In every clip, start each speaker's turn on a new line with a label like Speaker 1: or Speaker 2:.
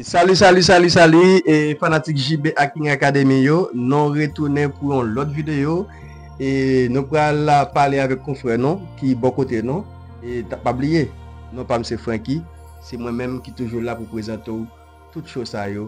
Speaker 1: Salut salut salut salut e fanatik JB ak King Academy yo nou retounen pou yon lòt videyo e nou pral la pale avèk konfrè nou ki bò kote nou e ta pa bliye nou pa mse Franky se mwen menm ki toujou la pou prezante ou tout cho sa yo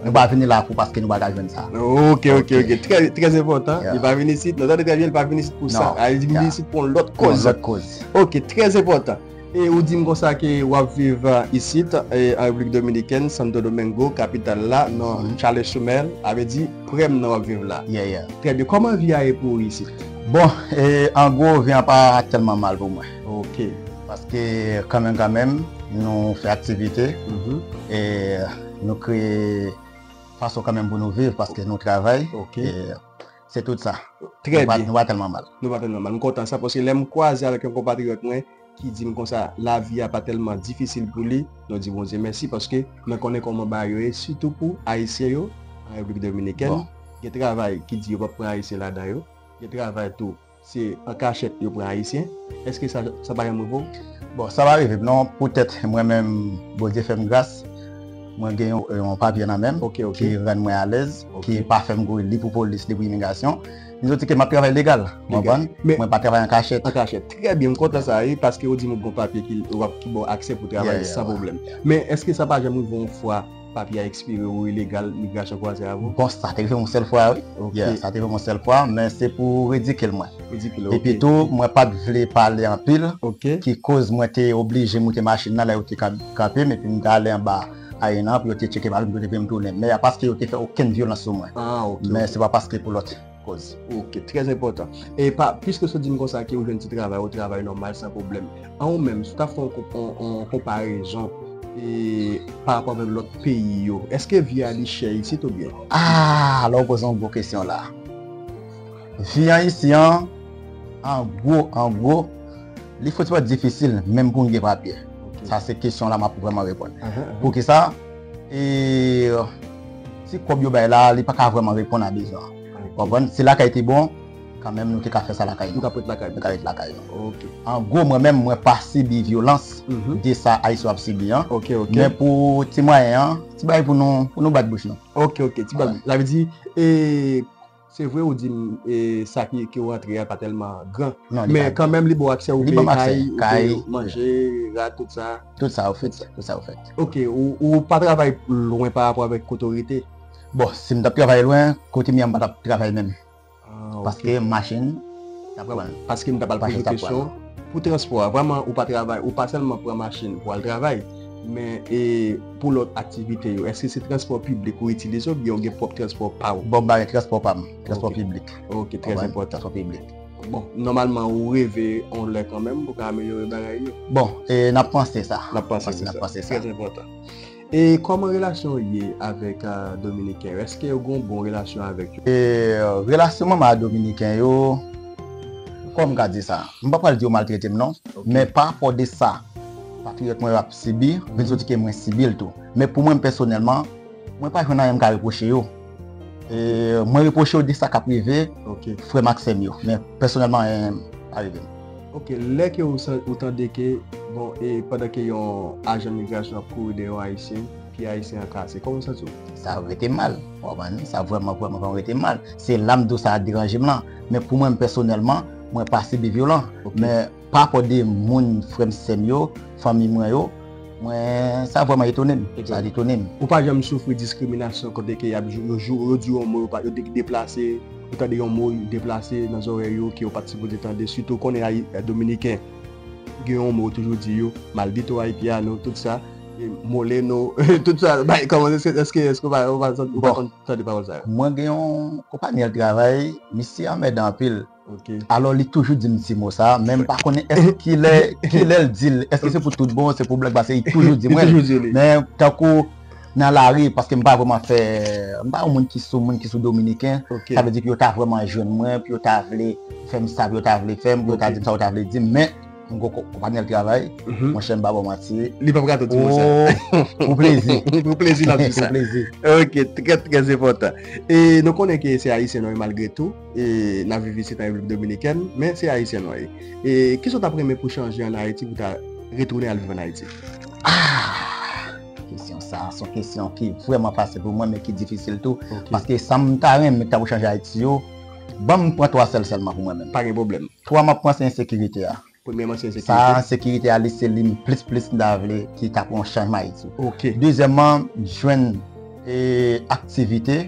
Speaker 2: Nou pa vini lakou paske nou pa ka jwenn sa. Ok, ok, ok.
Speaker 1: Trè enpòtan. Li pa vini isit. Nou tande trè byen, li pa vini isit pou sa. Li vini isit pou yon lòt kòz. Yon lòt kòz. Ok, trè enpòtan. E ou di m kon sa ke w ap viv isit an Repiblik Dominikèn, Santo Domingo, kapital la, nan Chale Soumèl, sa vle di prè m nan w ap viv la. Yeah, yeah. Trè byen. Kòman
Speaker 2: vi a
Speaker 1: ye pou ou isit? Bon,
Speaker 2: an gwo, vi a pa tèlman mal pou mwen. Ok. Paske kanmenm kanmenm, nou fè aktivite. E. Nou kreye fason kanmenm pou nou viv paske nou travay. Ok.
Speaker 1: Se
Speaker 2: tout sa. Trè byen. Nou pa tèlman
Speaker 1: mal. Nou pa
Speaker 2: tèlman mal. M kontan
Speaker 1: sa paske lè m kwaze avèk yon konpatriyòt mwen ki di m konsa lavi a pa tèlman difisil pou li, nou di Bondye mèsi paske mwen konnen kòman bagay yo ye sitou pou Ayisyen yo an Repiblik Dominikèn. Gen travay ki di yo pap pran Ayisyen ladan yo. Gen travay tou Se an kachèt yo pran ayisyen. Eske sa sa pa janm rive w? Bon sa pa
Speaker 2: rive m non pou tèt mwen menm Bondye fè m gras mwen gen yon papye nan men m ki rann mwen alèz ki pa fè m kouri li pou polis li pou imigrasyon m santi ke m ap travay legal ou konprann mwen pa travay an kachèt. An kachèt trè byen m
Speaker 1: kontan sa wi paske ou di m ou gen yon papye ki ba w aksè pou travay san pwoblèm men eske sa pa janm rive w yon fwa Papye a ekspire ou ilegal migrasyon kwaze avè w? Bon, sa te rive m yon sèl fwa
Speaker 2: wi. Ya, sa te rive m yon sèl fwa, men se pou redike l mwen. Redike l, ok. Epi tou, mwen pa t vle pale anpil. Ok. Ki koz mwen te oblije moute machin nan lè yo te kanpe m epi m te ale anba Arena an pou yo te tcheke bagay m pou yo te vin m tounen. Men a paske yo te fè okenn vyolans sou mwen. Ah, ok. Men se pa paske pou lòt. Koz. Ok, trè enpòtan.
Speaker 1: E pa, piske sou di m konsa ke ou jwenn ti travay, ou travay nòmal san pwoblèm. An ou menm, si w ta fè yon konparezon e pa rapò avèk lòt peyi yo, eske vi a li chè isit ou byen? Aah! La ou poze
Speaker 2: yon gwo kesyon la. Vi an isi an, an gwo, an gwo, li fouti pa difisil menm pou m gen papye. Sa se kesyon la m ap vrèman reponn. Poukisa? E si kob yo bay la li paka vreman reponn a bezwen an. Ou konprann? Si lakay te bon, kan menm nou te ka fè sa lakay nou. Nou tap ret lakay nou. Nou ta ret lakay nou. Ok. An gwo mwen menm mwen pa sibi vyolans de sa Ayisyen yo ap sibi an. Ok, ok. Men pou ti mwayen an, ti bagay pou nou, pou nou bat bouch nou. Ok, ok. Ti bagay.
Speaker 1: Sa vle di, e. Se vre ou dim sa ki ou rantre a pa telman gran. Men kanmenm li baw aksè ou veye kay, ou veye manje, rad tout sa. Tout sa ou fèt. Tout sa ou fèt. Ok, ou pa travay lwen pa rapò avèk kote ou rete? Bon, si m tap
Speaker 2: travay lwen, kote m ye a m pa tap travay menm. Paske machin tap pran l.
Speaker 1: Paske m ta pral poze kesyon pou transpò a. Vreman ou pa travay, ou pa sèlman pran machin pou al travay, men e. Pou lòt aktivite yo, èske se transpò piblik ou itilize oubyen ou gen pwòp transpò pa ou? Bon, m bay transpò pa m.
Speaker 2: Transpò piblik. Ok, trè
Speaker 1: enpòtan. Transpò piblik.
Speaker 2: Bon, nòmalman
Speaker 1: ou reve yon lè kanmenm pou ka amelyore bagay yo? Bon, n ap
Speaker 2: panse sa. N ap panse sa. N ap panse sa. Trè
Speaker 1: enpòtan. E kòman relasyon ou ye avèk Dominiken yo? Èske ou gen yon bon relasyon avèk yo? Relasyon mwen ak
Speaker 2: Dominiken yo, kòman m ka di sa? M pa pral di yo maltrete m non, men parapò de sa. Patriyòt mwen yo ap sibi, vin soti ke mwen sibi l tou. Men pou mwenm pèsonèlman, mwen pa jwenn anyen m ka repwoche yo. E mwen repwoche yo de sa k ap rive frè m ak sè m yo. Men pèsonèlman anyen pa rive m. Ok, lè
Speaker 1: ke ou tande ke, bon, e pandan ke yon ajan migrasyon ap kouri dèyè yon Ayisyen, pye Ayisyen an kase, kòman ou santi w? Sa rete m mal,
Speaker 2: ou konprann? Sa vrèman, vrèman, vrèman rete m mal. Se la m di w sa deranje m lan. Men pou mwenm pèsonèlman, mwen pa sibi vyolan. Men. Pa pò de moun frèm sèm yo fanmi mwen yo mwen sa vrèman etonem sa etonem. Ou pa janm
Speaker 1: soufri diskriminasyon kote ke yap yo jou
Speaker 2: yo
Speaker 1: di w yon mo yo pa yo di deplase ou tande yon mo deplase nan zòrèy ou ke ou pat sipoze tande sitou konnen ayi dominiken gen yon mo yo toujou di yo maldito haitiano tout sa moleno tout sa bay kòman eske eske eske ou pa ou pa ou pa konn tande pawòl sa yo. Mwen gen yon
Speaker 2: konpanyèl travay misye anmèdan anpil. Alò li
Speaker 1: toujou dim
Speaker 2: ti mo sa men mpa konnen èske kilè kilèl dil èske se pou tout bon se pou blag pase li toujou di mwen men tankou nan lari paske mpa vreman fè mpa yon moun ki sou moun ki sou dominiken sa vle di ke yo ta vreman jwenn mwen pou yo ta vle fèm sa pou yo ta vle fèm pou yo ta dim sa yo ta vle dim men m gon konpanyèl travay monchè mpa bon manti li pap ka tout di
Speaker 1: mwen sa pou plezi
Speaker 2: pou plezi lap di sa
Speaker 1: pou plezi ok
Speaker 2: trè trè
Speaker 1: zepòtan e nou konnen ke se ayisyen nou ye malgre tou. E la viv isit an Repiblik Dominikèn, men se Ayisyen ou ye. E ki sa w ta p renmen pou chanje an Ayiti pou w ta retounen al viv an Ayiti?
Speaker 2: Kesyon sa a son kesyon ki vrèman fasil pou mwen men ki difisil tou. Paske sa m ta renmen ta pou chanje Ayiti yo, ban m pran twa sèl sèlman pou mwen menm. Pa gen pwoblèm. Twa m ap
Speaker 1: pran se
Speaker 2: ensekirite a. Sa
Speaker 1: a ensekirite a li
Speaker 2: se li m plis plis m ta vle ki ta pran yon chanjman Ayiti. Dezyèman jwenn aktivite,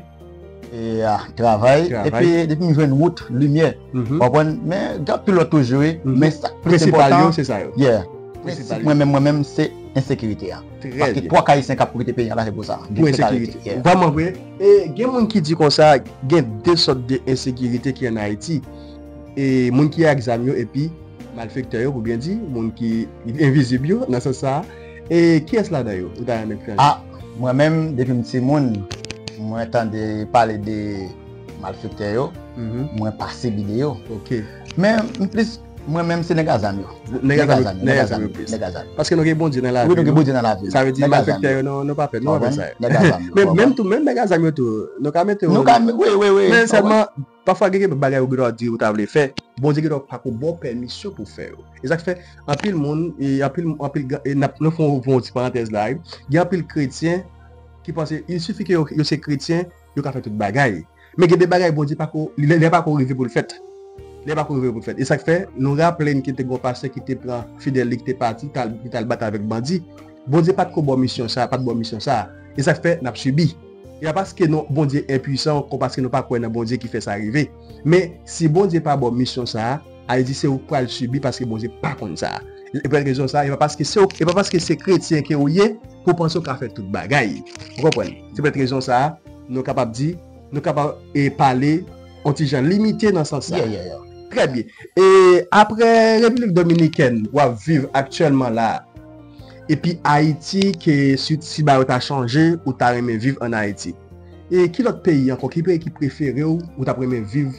Speaker 2: travay epi depi m jwenn wout, limyè ou konprann men gen anpil lòt toujou wi men sa k plis enpòtan prensip mwen menm mwen menm se ensekirite a paske twò ka ayisyen k ap koute peyi an la se pou sa pou ensekirite.
Speaker 1: Vrèman vre e gen moun ki di konsa gen 2 sòt de ensekirite ki an Ayiti. E moun ki ak zam yo epi malfektè yo pou byen di, moun ki envizib yo nan sans sa a, e kiyès ladan yo ou ta renmen pran li? A, mwen
Speaker 2: menm depi m timoun mwen tande pale de malfektè yo, mwen pa sibi de yo. Ok. Men
Speaker 1: m plis
Speaker 2: mwen menm se nèg a zam yo. Nèg a zam yo. Nèg a zam yo plis. Nèg a zam
Speaker 1: yo. Paske nou gen Bondye nan lavi nou. Wi nou gen Bondye nan lavi nou. Sa vle
Speaker 2: di malfektè yo nou
Speaker 1: pa pè, nou pa pè sa yo. Nèg a zam yo. Menm tou menm nèg a zam yo tou nou ka mete yo. Nou ka, wi wi wi. Men
Speaker 2: sèlman
Speaker 1: Pafwa gen kep bagay ou gendwa di ou ta vle fè, Bondye gendwa pa ko baw pèmisyon pou fè yo. E sak fè anpil moun, anpil anpil nap nou fè yon ti parantèz la wi, gen anpil kretyen ki panse il sifi ke yo se kretyen yo ka fè tout bagay. Men gen de bagay Bondye pa ko, lè li pa ko rive poul fèt. Lè li pa ko rive poul fèt. E sak fè nou raplenn ke te gon pastè ki te pran fidèl li ki te pati ki tal batay avèk bandi. Bondye pat ko baw misyon sa, pat baw misyon sa. E sak fè nap sibi. Ya paske non Bondye enpuisan kon paske nou pa kwè nan Bondye ki fè sa rive. Men si Bondye pa baw misyon sa a, al di se ou k pral sibi paske Bondye pa konn sa. E pou rezon sa a, e pa paske se ou, e pa paske se kretyen ke ou ye ke ou panse ou ka fè tout bagay. Ou konprann? Se pou rezon sa a, nou kapab di, nou kapab e pale on ti jan limite nan sans sa a. Trè byen. E apre Repiblik Dominikèn wap viv aktyèlman la a? Epi Ayiti ke swit si ba yo ta chanje ou ta renmen viv an Ayiti? E ki lòt peyi ankò ki peyi ki prefere w ou tap renmen viv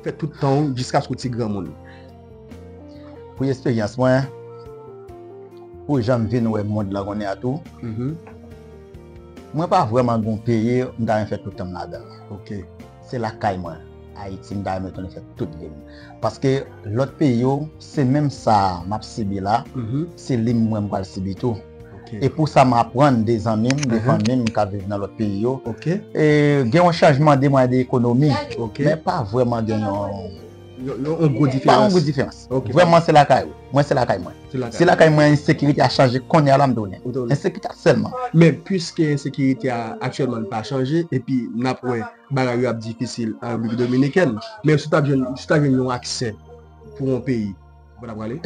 Speaker 1: fè tout tan w jiskaske w ti granmoun?
Speaker 2: Pou esperyans mwen, pou jan m vin wè mond lan kounye a tou, mwen pa vrèman gen yon peyi m ta renmen fè tout tan m ladan l. se
Speaker 1: lakay
Speaker 2: mwen ayiti m ta renmen tounen fè tout vim paske lòt peyi yo se menm sa map sibi la se li mwen m pral sibi tou e pou sa m aprann de zanmi m de fanmi m kap viv nan lòt peyi yo gen yon chanjman de mwen de ekonomi men pa vwèman gen yon
Speaker 1: Yon gwo diferans. Pa yon gwo diferans.
Speaker 2: Vreman se lakay ou. Mwen se lakay mwen. Se lakay mwen ensekirite a chanje konya la m do nen. Ensekirite a selman. Men pwiske
Speaker 1: ensekirite a aktyelman pa chanje epi n ap wè bagay yo ap difisil an Repiblik Dominikèn. Men si w ta jwenn yon aksè pou yon peyi, ou pa ta prale?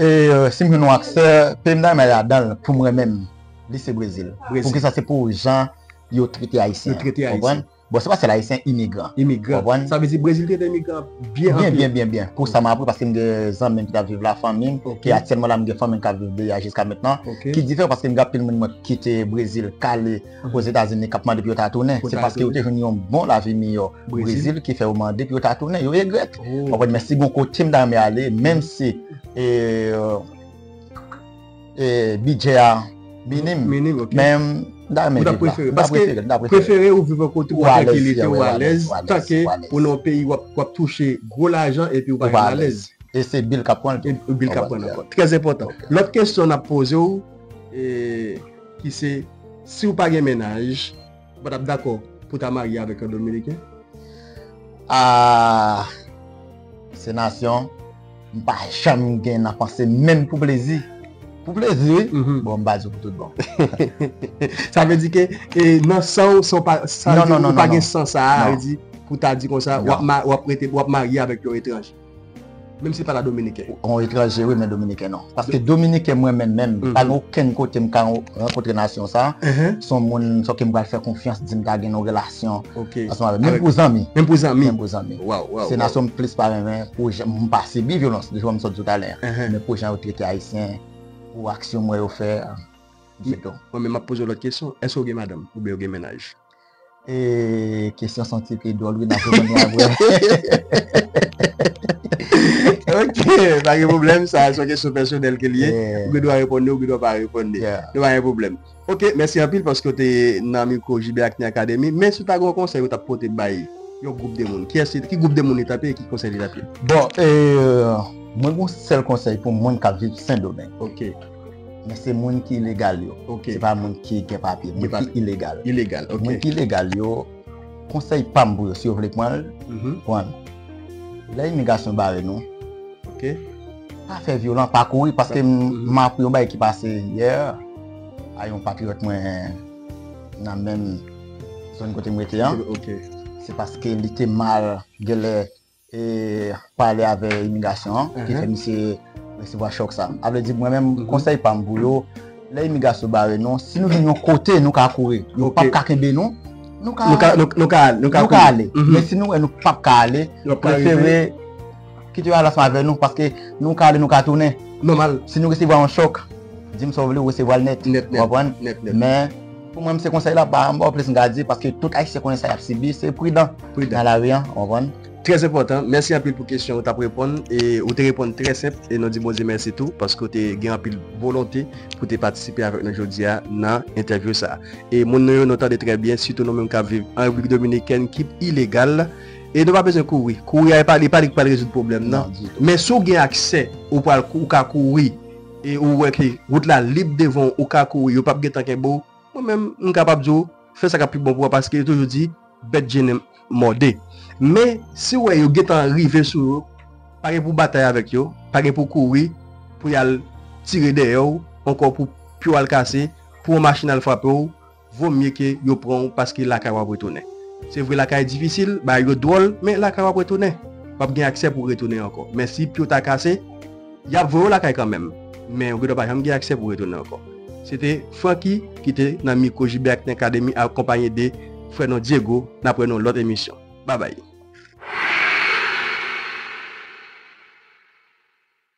Speaker 2: Si m jwenn yon aksè, peyi m ta renmen ladan l pou mwen menm li se Brezil. Poukisa se pou jan yo trete Ayisyen. Yo trete Ayisyen. Bon se pa sèl ayisyen, imigran. Imigran. Konprann? Sa vle di
Speaker 1: Brezil te gen imigran byen anpil. Byen, byen, byen.
Speaker 2: Pou sa m aprann paske m gen zanmi m ki t ap viv la, fanmi m. Ok. E aktyèlman la m gen fanmi m k ap viv de a jiska mentnan. Ok. Ki diferan paske m gen anpil moun mwen k kite Brezil k ale Ozetazini k ap mande pou yo ta tounen. Pou yo ta tounen. Se paske yo te jwenn yon bon lavi miyò Brezil ki fè yo mande pou yo ta tounen. Yo regrèt. Ou konprann? Men si gon kote m ta renmen ale menm si e. E bidjè a minim. Minim ok. Men mta renmen viv la. Ou ta prefere. Paske
Speaker 1: prefere ou viv an kote ou an tranquilite ou alèz. Ou alèz. Tanke ou nan yon peyi wap touche gwo lajan epi ou pa gen alèz. E se bil kap pran
Speaker 2: tou. E bil kap pran ankò. Trèz
Speaker 1: enpòtan. Lòt kesyon nap poze ou e ki se si ou pa gen menaj. Ou pa tap dakò pou ta marye avèk yon dominiken? Aah
Speaker 2: se nasyon m pa janm gen nan panse m menm pou plezi pou plezi wi bon m ba di w pou tout bon
Speaker 1: sa vle di ke nan san w ou pa gen san sa a pou ta di konsa wap marye avèk yon etranje. Menm si pa la dominiken. On etranje wi men
Speaker 2: dominiken non. Paske dominiken mwen menm menm, pa gen okenn kote m ka rankontre nasyon sa, son moun son ke m pral fè konfyans di m ta gen yon relasyon ansanm avè l. Menm
Speaker 1: pou zanmi.
Speaker 2: Menm pou zanmi. Menm pou zanmi.
Speaker 1: Waw, waw. Se
Speaker 2: nasyon m plis
Speaker 1: pa
Speaker 2: renmen pou jan m pa sibi vyolans de jan m sot di w talè an. Men pou jan yo trete ayisyen, pou aksyon m wè yo fè, se tou.
Speaker 1: Mwen menm m ap poze w lòt kesyon, èske ou gen madanm oubyen ou gen menaj? E
Speaker 2: kesyon son ti pi dwòl wi nap reponn yo aprè.
Speaker 1: Ok, pa gen pwoblèm sa son kesyon pèsonèl ke li ye, ou gen dwa reponn li ou gen dwa pa reponn li. Li pa gen pwoblèm. Ok, mèsi anpil paske ou te nan mikwo JB Acne Academy. Men si w ta gen yon konsèy ou tap pote bay yon gwoup de moun, kiyès ki gwoup de moun li tap ye e ki konsèy li tap ye? Bon,
Speaker 2: mwen gen yon sèl konsèy pou moun kap viv Sendomeng. Ok.
Speaker 1: Men se
Speaker 2: moun ki ilegal yo. Ok. Se pa moun ki
Speaker 1: gen
Speaker 2: papye. Gen papye. Moun ki ilegal. Ilegal, ok. Moun ki ilegal
Speaker 1: yo,
Speaker 2: konsèy pa m pou yo, si yo vle pran l, pran l. Lè imigrasyon bare nou, Ok.
Speaker 1: pa fè
Speaker 2: vyolan, pa kouri, paske m m apre yon bagay ki pase yè a yon patriyòt mwen nan menm zòn kote m rete an. Ok. Se
Speaker 1: paske
Speaker 2: li te mal, gen lè, e pale avè imigrasyon an ki fè misye resevwa chòk sa a vle di mwen menm konsèy pam pou yo lè imigrasyon bare nou si nou gen yon kote nou ka kouri yo pap ka kenbe nou nou ka nou ka ale nou ka ale men si nou wè nou pap ka ale yo prefere kite yo al ansanm avè nou paske nou ka ale nou ka tounen nòmal si nou resevwa
Speaker 1: yon chòk
Speaker 2: di m sa w vle ou resevwa l nèt nèt nèt nèt nèt men Pou mwen m se konsèy la pa anba plis m ka di paske tout ayisyen konnen sa yap sibi se pridan nan lari an ou konprann. Trè enpòtan, mèsi
Speaker 1: anpil pou kesyon ou tap reponn e ou te reponn trè senp e nou di Bondye mèsi tou paske ou te gen anpil volonte pou te patisipe avèk nou jodia nan entèvyou sa e moun nou yo nou tande trè byen sitou nou menm kap viv an Repiblik Dominikèn ki ilegal e nou pa bezwen kouri, kouri a li pa li k pral rezoud pwoblèm nan men si w gen aksè ou pral ou ka kouri. e ou wè ke wout la lib devan w ou ka kouri yo pap gentan kenbe w, mwen menm m kapab di w fè sa k ap pi bon pou w paske yo toujou di bèt je ne mòde men si w wè yo gentan rive sou ou pa gen pou w batay avèk yo, pa gen pou w kouri pou y al tire dèyè w ankò pou pye w al kase, pou yon machin al frape w. Vo mye ke yo pran w paske lakay w ap retounen. Se vre lakay difisil, bagay yo dwòl, men lakay w ap retounen. W ap gen aksè pou w retounen ankò. Men si pye w ta kase, y ap voye w lakay kanmenm, men ou gendwa pa janm gen aksè pou w retounen ankò. Se te Francky ki te nan mikwo JBActing Academy akonpanye de frè nou Diego. N ap wè nou lòt emisyon. Babay!